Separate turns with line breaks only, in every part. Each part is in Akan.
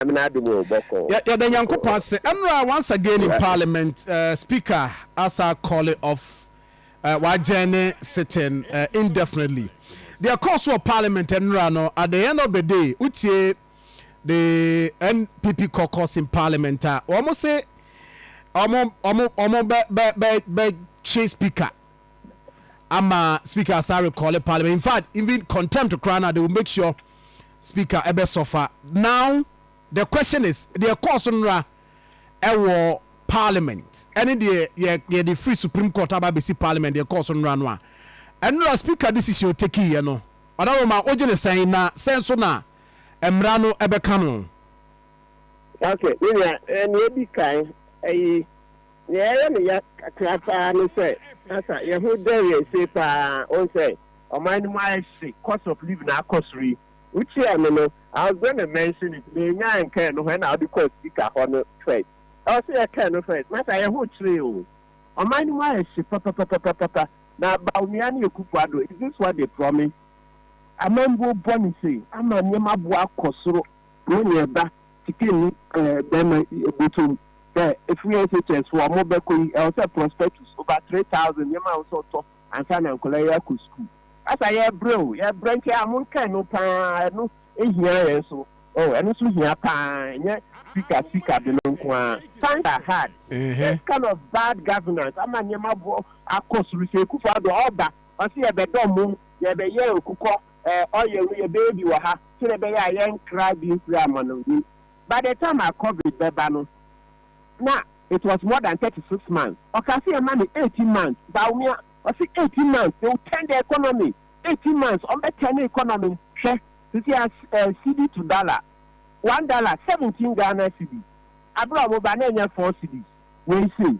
Yɛda Nyankopɔn ase.
Ɛnora once again in parliament uh, speaker asa calling off uh, wajɛne sitting uh, indefinitely. Deɛ ɛkɔɔ so wɔ parliament ɛnora no at the end of the day wotie the NPP caucus in parliament a wɔn se wɔn wɔn wɔn bɛ bɛ bɛ bɛ twe speaker ama speaker asa recall parliament in fact even contempt koraa na they will make sure Speaker ɛbɛ sɔfa. Now the question is deɛ ɛkɔɔ so nnora ɛwɔ Parliament ɛne deɛ yɛ yɛde firi Supreme Court aba abɛsi Parliament deɛ ɛkɔɔ so nnora no a, ɛnnora Speaker decision a ɔtakiiɛ no, Ɔdadoma wogye no sɛn na sɛn nso na mmara no ɛbɛka no? Okay,
me nua, nea edi kan, ɛyi Nea ɛyɛ me ya kakra paa ne sɛ na sa yɛn ho dɛre ase paa. Wohu sɛ, ɔman no mu ayɛ hye, cost of living akɔ soro yi. Wokyiaa me no, I was going to mention it, mennya anka ɛno ho, ɛnna wode kɔɔ speaker hɔ no first. Ɛwɔ sɛ yɛka ɛno first. Na sa yɛn ho kyeree o. Ɔman no mu ayɛ hye papapapapapa, na Bawumia ne Akufo-Addo, is this what they promised? Amambuo bɔ ne sei ama nneɛma bo akɔ soro ne nea ɛba Sika ni eh bɛɛma yi eh botom sɛ efiri SHS hɔ ɔmo bɛkɔ yi ɛwɔ sɛ prospectus over three thousand yɛ ma wo sɛ ɔtɔ ansa na nkɔlaa yi akɔ sukuu asa yɛ brɛ o yɛ brɛ nti a monka ɛno paa ɛno ehia yɛn nso oh ɛno nso hia paa ɛnyɛ sika sika de no nko aa times are hard this kind of bad governance ama nneɛma bɔ akɔ soro sɛ Akufo Addo ɔba ɔse yɛbɛdɔ mo yɛbɛyɛ nkokɔ Eh ɔyɛ wo yɛ baby wɔ ha sɛdeɛ ɛbɛyɛ a yɛn nkra bi mfiri amanɔnim by the time a covid bɛba no na it was more than thirty six months ɔkaa sɛ yɛma no eighteen months Bawumia ɔse eighteen months they will turn the economy eighteen months wɔn bɛ turn economy hwɛ sisi a eh cedi to dollar one dollar seventeen Ghana cedi abere a wɔn ba na ɛnyɛ four cedis. wei sei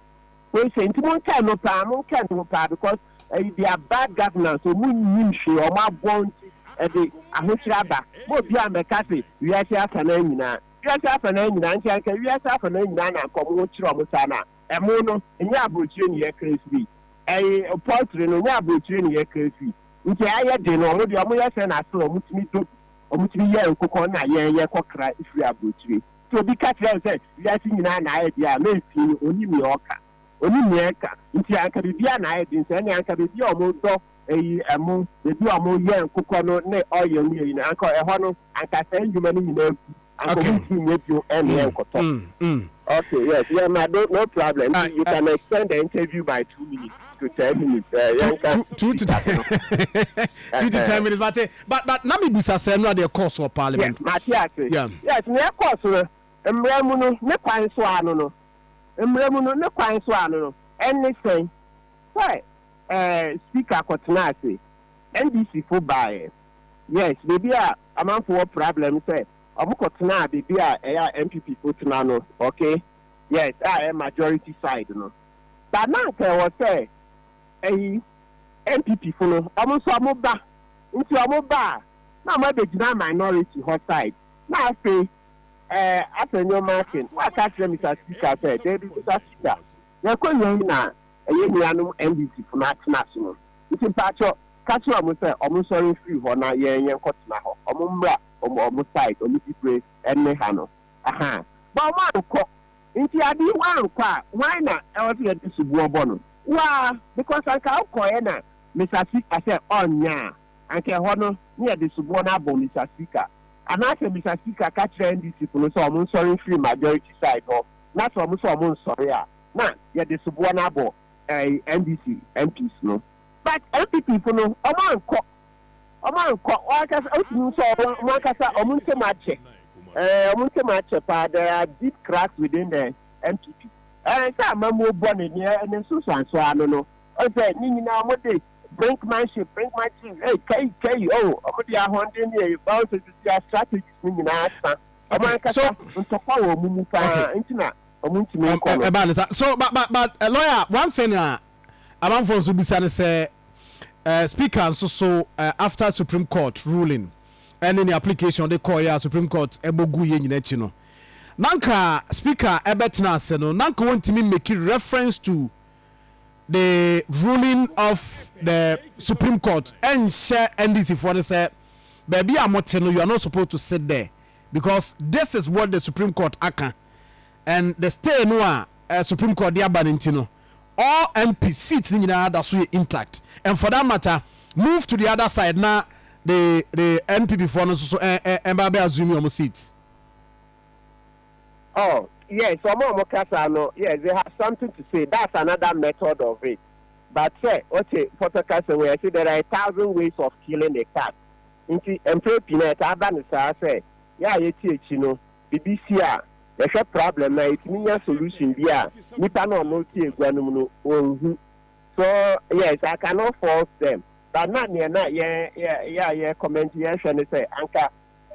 wei sei nti monkae no paa monkae no ho paa because ɛyi they are bad governance ɔmo nnim hwee ɔmo abɔn nti ɛde ahokyerɛ aba ma obiara mmɛka se wiase afanaa nyinaa wiase afanaa nyinaa nti anka wiase afanaa nyinaa na anka ɔmo ho kyerɛ ɔmo saa na ɛmo no nyɛ abrokyire ne yɛ kra firi ɛyi poultry no nyɛ abrokyire ne yɛ kra firi nti ayɛ den no ɔmo deɛ ɔmo yɛ sɛ na asɛ ɔmo tumi dɔ bi ɔmo tumi yɛ nkokɔ na yɛn yɛ kɔ kra firi abrokyire. Sɛ obi ka kyerɛ wo sɛ wiase nyinaa na ayɛ den a, mɛn pii no, ɔnnim nea ɔreka. Ɔnnim nea ɛreka. Nti anka biribiara na ayɛ den. Sɛ ɛneɛ anka baabi a wɔdɔ ɛyi, ɛmo, baabi a wɔyɛ nkokɔ no ne oil ne ɛyi no, anka ɛhɔ no, anka saa nnwuma no nyinaa agu. Anka Okay. wɔntumi nyɛ bio ne Mm, ɛnkɔtɔ. mm, mm. Okay, yes, yɛ ma do, no problem. Ah, Nti you ah. can extend the interview by two minutes to ten minutes. Eh, Two, yɛnka two, two
to, sika so no. two to ten Ɛhɛn. minutes. But eh, But but na mi bisa sɛ ɛno adeɛ ɛkɔɔ so wɔ parliament. Yeah, mate ase. Yeah.
Yes, nea ɛkɔɔ so no, mmara mu no ne kwan so ano no, mmara mu no ne kwan so ano no, ɛne sɛn? Sɛ ɛɛ speaker kɔtena ase, NDC fo baeɛ. Yes, baabi a amanfo wɔ problem sɛ wɔn kɔtenaa baabi a ɛyɛ a NPP fo tena no, okay? Yes, a ɛyɛ majority side no. But na anka ɛwɔ sɛ. ɛyi NPP fo no ɔmo nso ɔmo ba nti ɔmo ba a na ɔmo abɛgyina minority hɔ side na afei ɛɛ asɛ nnoɔma ake na waka akyerɛ Mister Speaker sɛ daabi Mister Speaker yɛkɔ wiei na ɛyɛ nuanom NDC fo no atena so no nti mpakyɛ ka kyerɛ ɔmo sɛ ɔmo nsɔre mfiri hɔ na yɛn yɛn kɔ tena hɔ ɔmo mmra ɔmo ɔmo side ɔmo dibre ɛnne ha no ahaa but ɔmo ankɔ Nti ade yi wankɔ a wan na ɛwɔ sɛ yɛde soboɔ bɔ no? Waa, because anka wokɔeɛ na Mister Sika sɛ ɔnyɛ a, anka ɛhɔ no ne yɛde soboɔ no abɔ Mister Sika. Anaasɛ Mister Sika ka kyerɛ NDC fo no sɛ wɔn nsɔre mfiri majority side hɔ na sɛ wɔn sɛ wɔn nsɔre a na yɛde soboɔ no abɔ ɛɛi NDC MPs no. But NPP fo no wɔn ankɔ. wɔankɔ wɔn ankasa wotumi nso a wɔn wɔn ankasa wɔn ntɛm akyɛ ɛɛ wɔn ntɛm akyɛ paa there are deep cracks within the npp ɛɛ sɛ amamuo bɔ ne ne ne nsosoanso ano no ɔsɛ ne nyinaa wɔn de brinkmanship brinkmanship ɛɛ kɛyi kɛyi o wɔn de ahɔnden ne ɛyɛ bɔn sɛ sisi a strategies ne nyinaa sa wɔn Okay, ankasa so- ntɔkwa wɔ wɔn mu paa Okay. nti na
wɔn ntumi nkɔ no. ɛbaa ne sa so ba ba ba eh, lawyer one thing a Amanfoɔ nso bisa no sɛ eh, speaker nso so eh, after Supreme Court ruling ɛne ne application de kɔɔeɛ a Supreme Court ɛbɔ guiɛ nyina akyi no nanka speaker ɛbɛtena ase no nanka wɔntumi make reference to the ruling of the Supreme Court ɛnhyɛ NDC foɔ no sɛ baabi a mote no you are not supposed to sit there because this is what the Supreme Court aka and the stay no a eh, Supreme Court de aba no nti no All MP seats no nyinaa da so yɛ intact and for that matter move to the other side na the the NPP foɔ no nso so ɛn ɛn ɛnba abɛ assume wɔn seats.
Oh yes ɔmo a ɔmo ka saa no yes they have something to say that's another method of it but sɛ ɔte pɔtɔ kasa wei yɛse there are a thousand ways of killing a cat nti mprɛ pii no ɛtaa ba no saa sɛ yɛ a yɛte akyi no bibi si a yɛhwɛ prablɛm no a yɛtumi nya solution bi a nipa no a ɔmo te agua no mu no ɔnhu so yes I cannot fault them but na neɛ na yɛ yɛ yɛ a yɛ comment yɛhwɛ ne sɛ anka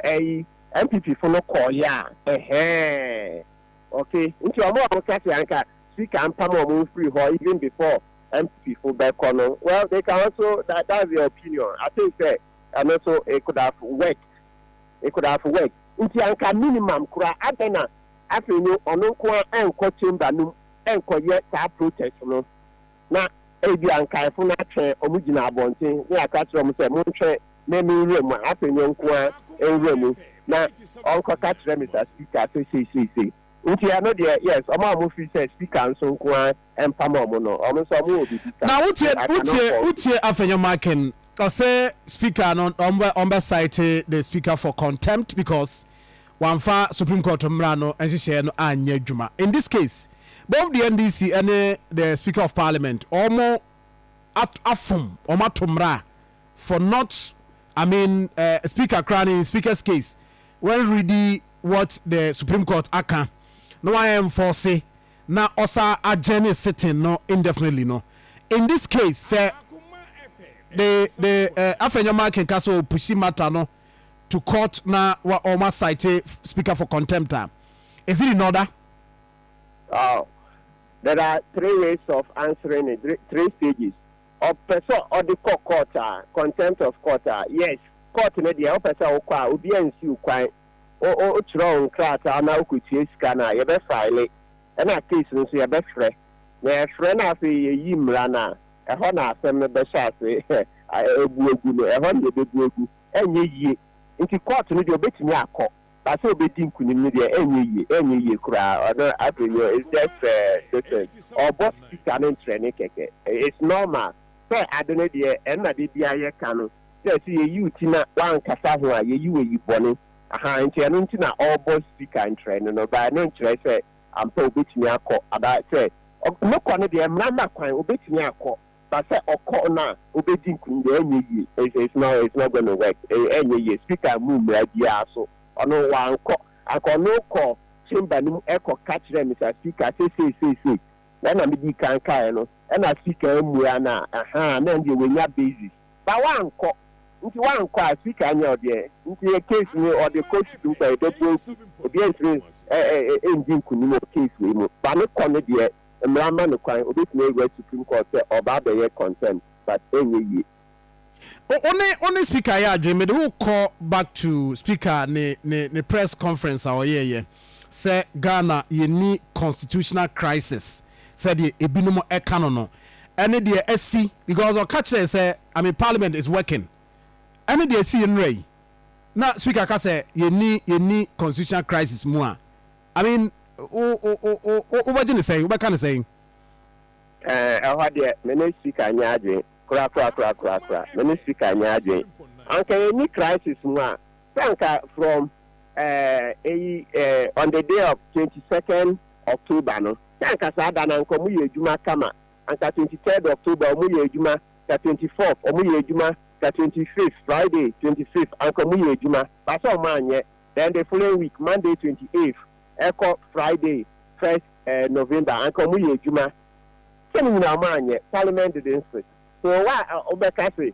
ɛyi NPP fo no kɔɔ yɛ a ɛhɛɛɛɛ ok nti ɔmo a ɔmo ka sɛ anka speaker mpam ɔmo mfiri hɔ even before NPP fo bɛkɔ no well they can also that that's their opinion I think sɛ ɛno so it could have worked it could have worked. Nti anka minimum koraa adɛn na afei no ɔno nko ara ɛnkɔ chamber no mu ɛnkɔyɛ saa protest no na ebia nkaefo no atwɛn ɔmo gyina abɔnten na yɛaka kyerɛ ɔmo sɛ montwɛn me me nwura mu a afei no nko ara nwura mu na ɔnkɔka kyerɛ Mister Speaker sɛ sei sei sei nti ɛno deɛ yes ɔmo a ɔmo firi sɛ speaker nso nko ara Ɛmfa ma ɔmo no, ɔmo nso ɔmo wɔ biribi ka. Na wotie
I cannot wotie fault you. wotie Afenyo Akin ɔse speaker no ɔmo bɛ ɔmo bɛ cite the speaker for contempt because wamfa supreme court mmra no nhyehyɛɛ no anyɛ adwuma. In this case both the NDC ɛne the speaker of parliament ɔmo at afom ɔmo ato mmra for not I mean eh, speaker koraa no in speaker's case when ready what the supreme court aka na wayɛ enforce na ɔsa agyɛ ne sitting no indefinitely no, in this case sɛ the the eh, afei nneɛma akenka sɛ ɔpushi matter no to court na wɔn asite speaker for contempt a, is it in order?
Oh, there are three ways of answering it, three stages. Ɔpɛ sɛ ɔde kɔ court a, contempt of court a, yes, court no deɛ ɔpɛ sɛ ɔkɔ a, obiara nsi wo kwan. wokyerɛw nkrataa na wokotua sika no a, yɛbɛfaele, ɛnna case no nso yɛbɛfrɛ. Na yɛfrɛ na afei yeyi mmara no a, ɛhɔ na asɛm no bɛhyɛ ase abu agu no. Ɛhɔ na yebebu agu. Ɛnyɛ yiye. Enti court no deɛ, obetumi akɔ, but sɛ obedi nkonim no deɛ, ɛnyɛ yiye. Ɛnyɛ yiye koraa. Ɔno afei no, it's just a nuisance. Ɔbɔ sika no nkyerɛ ne kɛkɛ. It's normal sɛ ade no deɛ, ɛnna da biara yɛka no. sɛ sɛ yɛyi wo ti na woankasa ho a yɛyi wo ayi bɔne ahaa nti ɛno nti na ɔrebɔ speaker nkyerɛ no no but ɛno nkyerɛ sɛ ampa obɛtumi akɔ anaa sɛ ne kɔ no deɛ mmara ma kwan obɛtumi akɔ but sɛ ɔkɔ no a obɛdi nkunim deɛ ɛnyɛ yie it's it's not it's not gonna work ɛnyɛ yie speaker mmu mmara biara so ɔno wankɔ anka ɔno kɔ chamber no mu ɛkɔ ka kyerɛ Mister Speaker sɛ sei sei sei na ɛna medii kan kaeɛ no ɛna speaker ammua no a ahaa na ɛndeɛ wanya basis Ba wankɔ nti wankɔ a sika nyɛ ɔdeɛ nti yɛ case no ɔde kɔ sukuu kɔ a yɛbɛbɔ nti obiara ntumi ndi nkunim wɔ case wei mu ba no kɔ no deɛ mmara mma no kwan ɔbɛtumi awura supreme court sɛ ɔba abɛyɛ contempt but ɛnyɛ yie. O o ne
o ne speaker yɛ adwene mede wo kɔ back to speaker ne ne ne press conference a ɔyɛɛyɛ. Sɛ Ghana yɛnni constitutional crisis sɛdeɛ ebinom ɛka no no, ɛne deɛ asi, because ɔka kyerɛɛ sɛ I mean parliament is working, ɛne deɛ ɛsii nnora yi, na speaker ka sɛ yɛnni yɛnni constitutional crisis mu a, I mean wo wo wo wo wo wobɛgye no sɛn, wobɛka no sɛn? Ɛɛ,
ɛhɔ deɛ me ne speaker nyɛ adwene, kora kora kora kora kora, me ne speaker nyɛ adwene. Anka yɛnni crisis mu a, Sɛ anka from eh, eyi eh, on the day of twenty second October no, sɛ anka saa da no anka ɔmo yɛ adwuma kama, anka twenty third October ɔmo yɛ adwuma, ka twenty fourth ɔmo yɛ adwuma, ka twenty fifth, Friday twenty fifth anka ɔmo yɛ adwuma, but sɛ ɔmo anyɛ, then the following week, Monday twenty eighth ɛkɔ Friday first eh, November anka ɔmo yɛ adwuma. Sɛ ne nyinaa ɔmo anyɛ, Parliament didn't sit. So why a wobɛka se